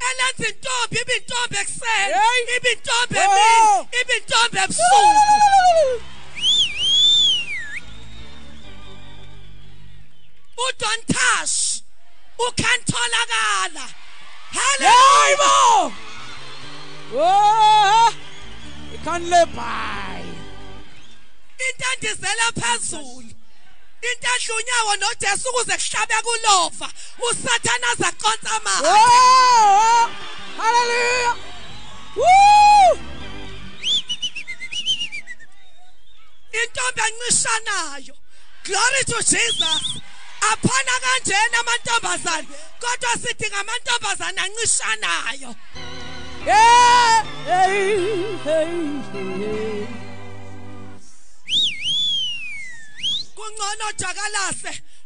elenza intombi ibe intombi ekuseni Hey. ibe intombi Oh. emini ibe intombi ebusuku udon tash ukhantholakala Hayi haleluya bo! Oh! Ikhanle bhayi. into endizela phezulu into edla unyawo nojesu ukuze kuhlabe kulova usathane azaconsa amanga oh, oh. haleluya intombi encishanayo glory to jesus aphana kanjena amantombazane kodwa sidinga amantombazane ancishanayo yeah, hey, hey, hey. kungcono jakalase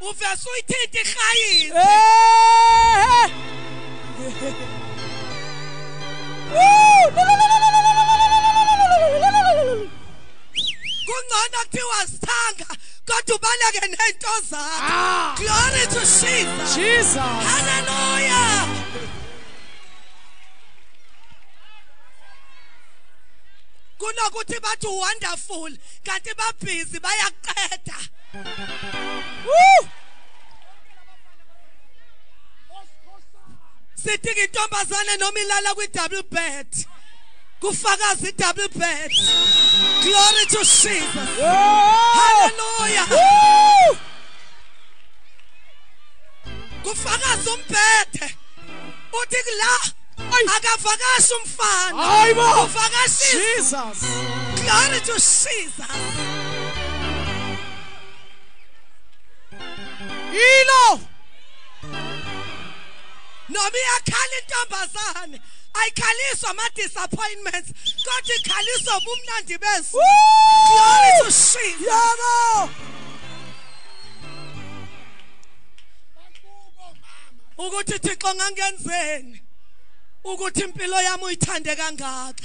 uvese uyithinta irhayisi kungcono kuthiwa sithanga kodwa ubaleke nento zakho ah. glory to jesus jesus hallelujah kunokuthi bathi wonderful kanti babhizi bayakuqeda Woo! sidinga intombazane noma ilala kwi-double bed kufakaza i-double bed glory to jesus halleluya kufakaza umbhede uthi kula akavakashi umfana uvakashisa glory to jesus yilo noma iyakhala intombazane ayikhaliswa ama-disappointments kodwa ikhaliswa ubumnandi besu glory to shit yabo ukuthi thixo ngangenzeni ukuthi impilo yami uyithande kangaka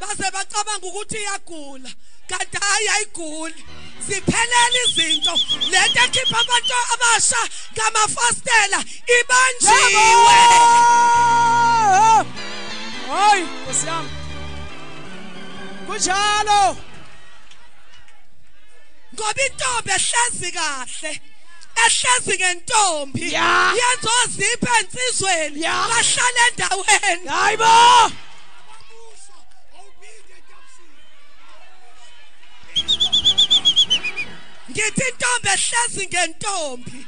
baze bacabanga ukuthi iyagula kanti hayi ayiguli ziphelele izinto lento ekhipha abantu abasha ngamafastela ibanjiwe hayi nkosi yami kunjalo ngoba intombi ehlezi kahle ehlezi ngentombi yenza ozipha ensizweni bahlala endaweni hayibo ngithi intombi ehlezi ngentombi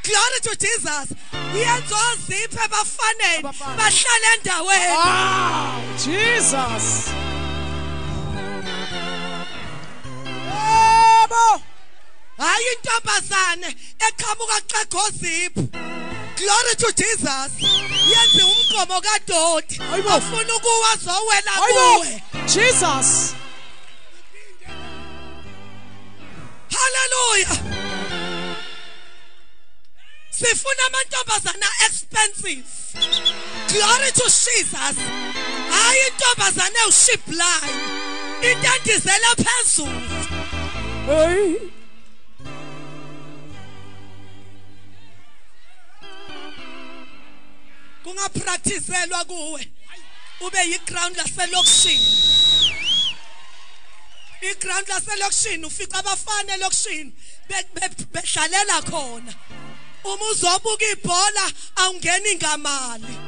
glory to jesus uyenza oziphe ebafaneni bahlale endaweni wow jesus yebo hayi intombazane eqhamuka xegoziphu glory to jesus yenze umgomo kadoti ofuna ukuwa zowela kuwe jesus haleluya sifuna amantombazana expensive glory to jesus hayi intombazana ewuship line intandizela phezulu hey kungapractiselwa kuwe ube yiground laselokishini iground laselokishini ufica abafana elokishini bedlalela khona uma uzobuka ibhola awungeni ngamali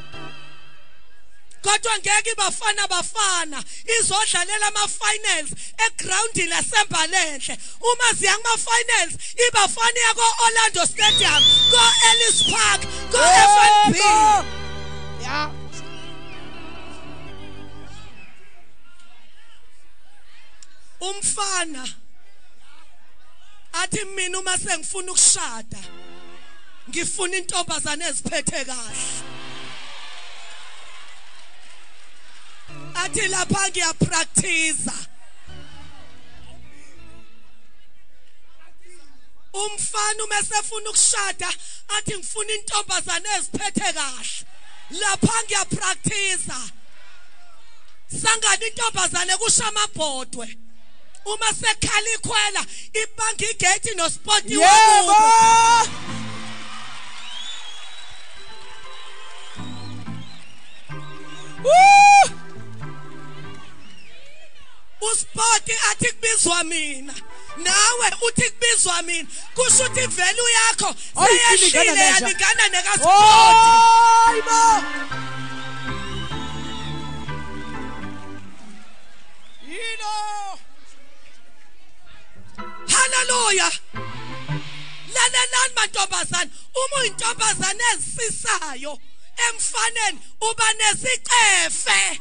kodwa ngeke ibafana bafana izodlalela ama finals eground lasembalenhle uma ziya kuma-finals ibafana iya ko-orlando stadium ko-ellis park ko-fnb ya umfana athi mina uma sengifuna ukushada ngifuna intombazane eziphethe kahle athi lapha ngiyapractice umfana uma esefuna ukushada athi ngifuna intombazane eziphethe kahle lapha ngiyapractice sangani intombazane kusho amabhodwe uma sekhala ikhwela ibanga igate nospoti yebo Woo! uSpoti athi kubizwa mina nawe uthi kubizwa mina kusho ukuthi ivelu yakho seyeshile yalingana nekaSpoti hayibo yilo haleluya lalelani mantombazane uma uyintombazane ezisisayo emfaneni uba nesicefe